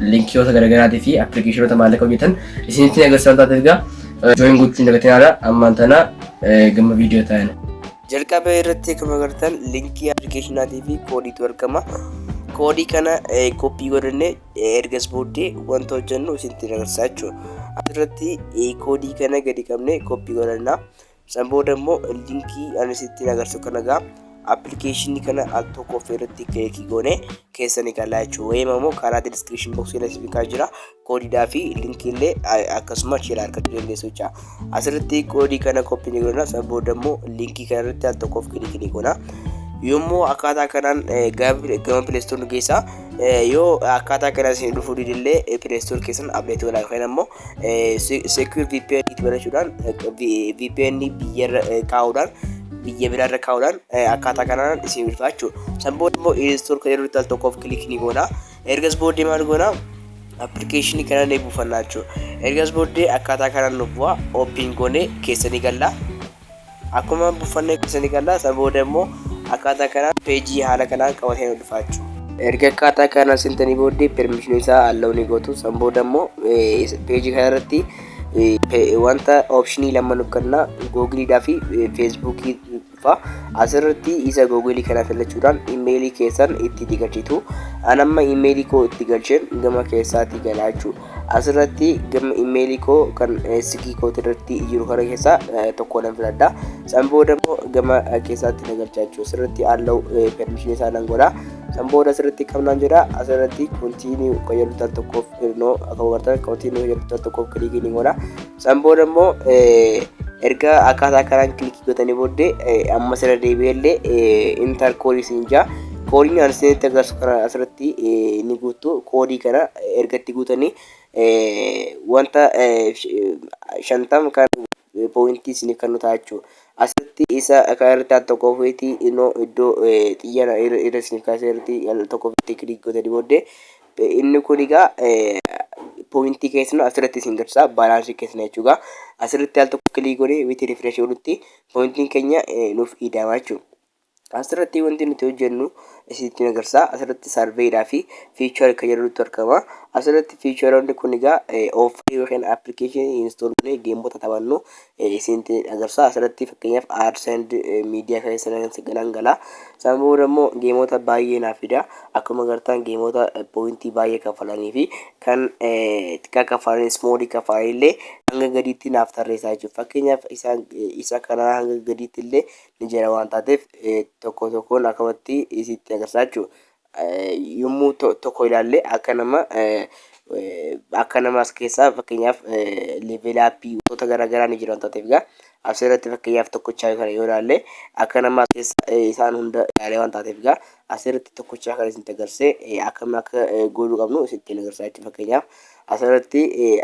linkiyoota garaagaraatii fi appilikeeshinoota maallaqa hojjetan isinitti ni agarsiisa waan taateef egaa jooyin gochuu hin dagatinaadha ammaan tana gama viidiyoo taa'ina. Jalqaba irratti akkuma agartan linkii appilikeeshinaatii fi koodiitu argama. Koodii kana koppii godhannee ergas booddee wanta hojjennu isinitti agarsiisa jechuudha. Asirratti koodii kana gadi qabnee koppii godhanna. San booda immoo linkii ani sittiin agarsiisu kana egaa appilikeeshinii kana al tokko of irratti kilikii goone keessanii galaa jechuudha. Wayima immoo karaa diskiripshin boksii irratti bikaa jira. Koodiidhaa fi linkii illee akkasuma achiirraa argachuu dandeessu jecha. Asirratti koodii kana koppii ni goona. San booda immoo linkii kana irratti al tokko of kilikii ni goona. Yommuu akkaataa kanaan gama pileestoor nu geessaa yoo akkaataa kanaan isin dhufuu didillee pileestoor keessan abdeetii godhaa yookaan immoo secure VPN itti banachuudhaan VPN biyyarra kaa'uudhaan biyya biraarra kaa'uudhaan akkaataa kanaan isin ulfaa jechuudha. San booda immoo install kan irratti al tokkoof kilik ni goona. Ergas booddee maal goona? Appilikeeshinii kana ni buufannaa jechuudha. Ergas booddee akkaataa kanaan nu bu'a ooppiin goonee keessa ni galla. Akkuma buffannee keessa ni galla. Isa booda immoo akkaataa kanaan peejii haala kanaan qabatee nu dhufaachuu. Erga akkaataa kanaan sentanii booddee permission isaa allow ni gootu. San booda immoo peejii kana irratti wanta optionii lama nu kenna googiliidhaa fi feesbuukii dhufa. Asirratti isa googilii kana filachuudhaan imeelii keessan itti digachitu. An amma imeelii koo itti galcheen gama keessaatii galaa jechuudha. Asirratti gama imeelii koo kan sigii kooti irratti jiru kana keessaa tokko nan filadha. San booda immoo gama keessaatti na galchaa jechuudha. Asirratti allow permission isaa nan godha. San booda asirratti kam nan jedha asirratti continue kan jedhu tokkoof no akka hubattan continue kan jedhu tokkoof kiliikii ni godha. San booda immoo erga akkaataa kanaan kilikii gootanii booddee ammas irra deebi'ee illee intar koodii siin jaa koodiin ani isinitti agarsiisu kana asirratti ni guuttu koodii kana erga itti guutanii wanta shantam kan pooyintii isiniif kan nu ta'a jechuudha. Asirratti isa kan irratti al tokko ofiitii inoo iddoo xiyyaara irra isiniif kaasee irratti al tokko ofiitii kilikii gootanii booddee Inni kun egaa poointii keessan asirratti isin garsiisa baalaansii keessan jechuudha. Asirratti al tokko kilii godhee witi rifresh godhutti poointiin keenya nuuf ida'ama jechuudha. Asirratti wanti nuti hojjennu isinitti agarsiisa. Asirratti sarveedhaa fi fiichar kan jedhutu argama. Asirratti fiicharoonni kun egaa oofii yookiin appilikeeshinii instool godhee geemota taphannu isinti agarsaa asirratti fakkeenyaaf ads and media keessa nan galan gala isaan booda immoo geemoota baay'ee naaf fida akkuma agartan geemoota poointii baay'ee kaffalanii fi kan xiqqaa kaffalanii ismoolii kaffalanii illee hanga gadiitti naaf tarreessaa jechuudha fakkeenyaaf isaan isa kanaa hanga gadiitti illee ni jira waan taateef tokko tokkoon akkamatti isitti agarsaa jechuudha yommuu tokko ilaalle akka nama akka nama as keessaa fakkeenyaaf level up wantoota garaagaraa ni jiran taateef egaa as irratti fakkeenyaaf tokkochaa kana yoo ilaalle akka nama as keessa isaan hunda ilaalee waan taateef egaa as irratti tokkochaa kana isin agarsiise akkam akka gooluu qabnu isin ittiin agarsiisa jechuudha fakkeenyaaf as irratti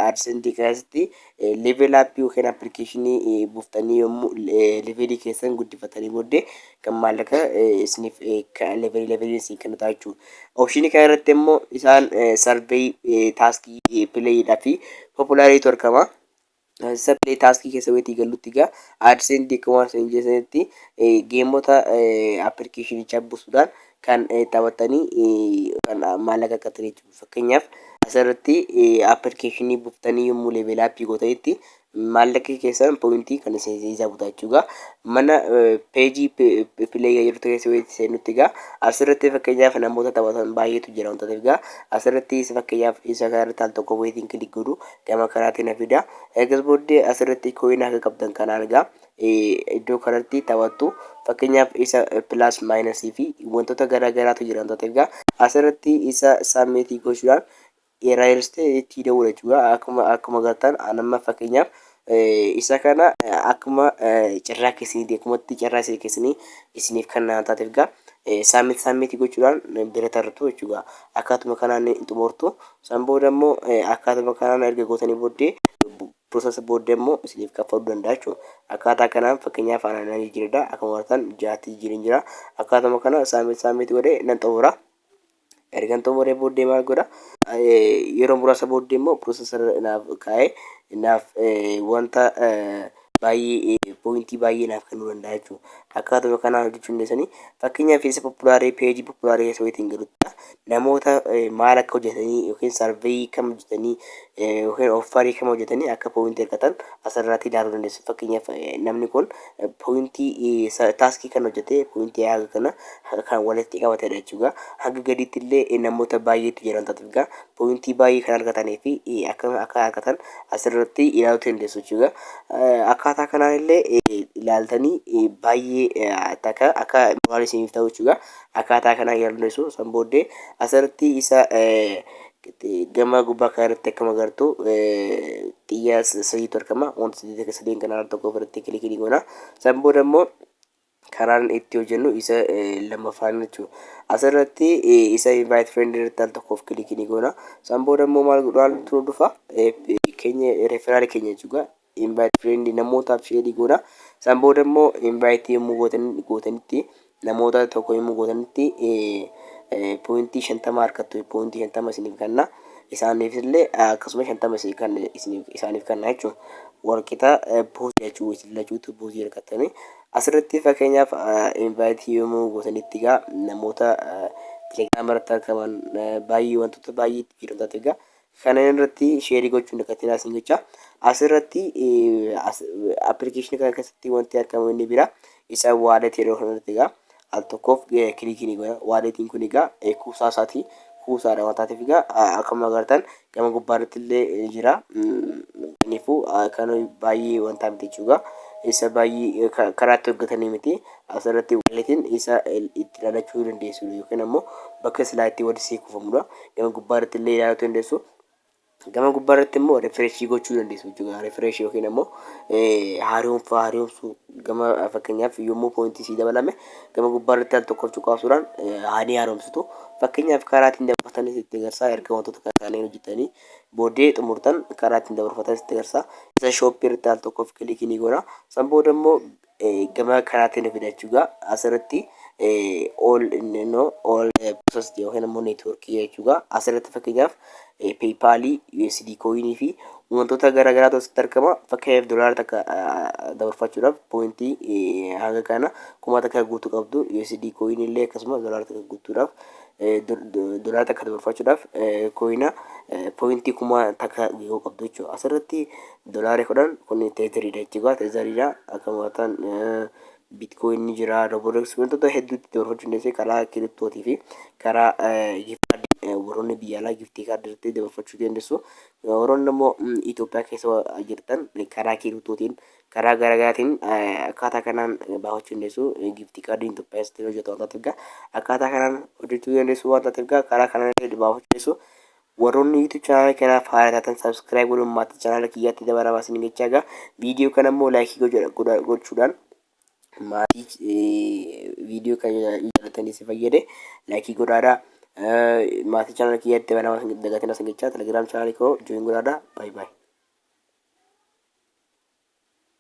aadsentii keessatti Level app yookiin applicationii buuftanii yommuu levelii keessan guddifatanii booddee kan maallaqa isiniif levelii levelii isin kennu ta'a jechuudha. Optionii kana irratti immoo isaan survey taaskii pileeyidhaa fi populaariitu argama. Isa pilee taaskii keessa weetii gallutti egaa AdSense akka waan isin jedhanitti geemota appilikeeshinichaa buusuudhaan kan taphattanii kan maallaqa qaxxanii jechuudha. Fakkeenyaaf as irratti appilikeeshinii buttanii yommuu leeveelaa appii gootanitti maallaqi keessan pooyintii kan isin isaa butaa jechuudha. Mana peejii pileeyaa jirtu keessa yoo seenutti egaa as irratti fakkeenyaaf namoota taphatan baay'eetu jira wantoota egaa as irratti fakkeenyaaf isa kana irratti al tokko weetiin kilik godhu gama kanaatiin na fida. Eegas booddee as irratti kooyinaa akka qabdan kanaan egaa iddoo kanatti taphattu fakkeenyaaf isa pilaas maayinasii fi wantoota garaa garaatu jira wantoota egaa asirratti isa saammeetii gochuudhaan eerayiristee itti dawwala jechuudha akkuma akkuma gartaan anamma fakkeenyaaf isa kana akkuma carraa keessanii akkumatti carraa isin keessanii isiniif kan naan taate egaa saammeetii saammeetii gochuudhaan bira tartu jechuudha akkaatuma kanaan xumurtu san booda immoo akkaatuma kanaan erga gootanii booddee process booddee immoo isiniif kaffaluu danda'a jechuudha. Akkaataa kanaan fakkeenyaaf ana nan jijjiiradha akkuma argitan ja'atti jijjiireen jira. Akkaatuma kana submit submit godhee nan xumura. Ergan xumuree booddee maal godha? Yeroo muraasa booddee immoo process irra naaf kaa'ee naaf wanta baay'ee poointii baay'ee naaf kennuu danda'a jechuudha. Akkaatuma kanaan hojjechuu dandeessanii fakkeenyaaf isa populaaree peejii populaaree isa wayitiin galuttidha. namoota maal akka hojjetanii yookiin sarveeyii kam hojjetanii yookiin offarii kam hojjetanii akka pooyintii argatan asirratti ilaaluu dandeessu. Fakkeenyaaf namni kun pooyintii taaskii kan hojjete pooyintii haga kana kan walitti qabatedha jechuudha. Haga gadiitti illee namoota baay'eetu jiran taatudha. Pooyintii baay'ee kan argatanii fi akka akka argatan asirratti ilaaluu dandeessu jechuudha. Akkaataa kanaan illee ilaaltanii baay'ee akka akka waan isiniif ta'u jechuudha. Akkaataa kanaan yaadonni sun san booddee asirratti isa gama gubbaa kana irratti akkuma agartu xiyyaa sadiitu argama. Wanta sadii akka sadeen kana irratti tokko ofirratti kilikii ni goona. San booda immoo karaan itti hojjennu isa lammaffaan jechuudha. Asirratti isa invite friend irratti al tokkoof kilikii ni goona. San booda immoo maal godhu haaltu nu dhufa keenya referral keenya jechuudha. invite friend namootaaf share ni goona. San booda immoo invite yommuu gootan gootanitti namoota tokko yommuu gootanitti poointii shantama harkattu poointii shantama isiniif kenna. Isaaniif illee akkasuma shantama isin kan isiniif isaaniif kenna jechuun walqixa buusii jechuu isin lachuutu buusii harkattanii. Asirratti fakkeenyaaf invite yommuu gootanitti egaa namoota telegram irratti argaman baay'ee wantoota baay'ee itti fayyadamtaatu egaa Kanan irratti sheerii gochuu hin dagatinaa sin jecha. Asirratti appilikeeshinii kana keessatti wanti argamu inni bira isa waaletii yeroo kanarratti egaa al tokkoof kilikii ni godha. Waaletiin kun egaa kuusaa isaatii kuusaadha waan taateef egaa akkuma agartan gama gubbaarratti illee ni jira. Kanaafuu kan baay'ee wantaa miti jechuudha. Isa baay'ee karaatti hojjetanii miti. As irratti walletiin isa itti ilaalachuu dandeessu yookiin ammoo bakka silaa itti wal sii kufamudha. Gama gubbaa irratti illee ilaalachuu dandeessu. Gama gubbaa irratti immoo refresh gochuu dandeessu jechuudha. Refresh yookiin ammoo haaromfaa haaromsuu gama fakkeenyaaf yommuu poointii sii dabalame gama gubbaa irratti al tokkoof cuqaasuudhaan haanii haaromsitu. Fakkeenyaaf karaa ittiin dabarfatanis itti agarsiisa. Erga wantoota kana kanneen hojjetanii booddee xumurtan karaa ittiin dabarfatanis itti agarsiisa. Isa shooppii irratti al tokkoof kilikii ni goona. San booda immoo gama kanaatiin nu fida jechuudha. Asirratti all no all process yookiin immoo network jechuudha. Asirratti fakkeenyaaf PayPal, USD coin fi wantoota garaa garaatu asitti argama. Fakkeenyaaf dolaara takka dabarfachuudhaaf poointii hanga kana kuma takka guutuu qabdu USD coin illee akkasuma dolaara takka guutuudhaaf dolaara takka dabarfachuudhaaf coina poointii kuma takka yoo qabdu jechuudha. Asirratti Dolaari 10 kun teeterii dha jechuudha. Teeterii dha. Akka mo'atan bitcoin ni jira. Roborex wantoota hedduutti doorfachuu dandeessee karaa kiriptootii fi karaa giftii warroonni biyya alaa giftii kaardii irratti doorfachuu dandeessu. Warroonni immoo Itoophiyaa keessa jirtan karaa kiriptootiin karaa garaagaraatiin akkaataa kanaan baafachuu dandeessu. Giftii kaardiin Itoophiyaa keessatti hojjetu waan taateef egaa akkaataa kanaan hojjechuu dandeessu waan taateef egaa karaa kanaan baafachuu dandeessu. Warroonni YouTube channel kanaaf haara taatan subscribe godhuun maatii channel kiyyaatti dabaramaa isin jechaa egaa video kana immoo like godha gochuudhaan maatii video kana jaallatanii si fayyade like godhaadhaa maatii channel kiyyaatti dabaramaa isin dagatina isin jechaa telegram channel koo join godhaadhaa bye bye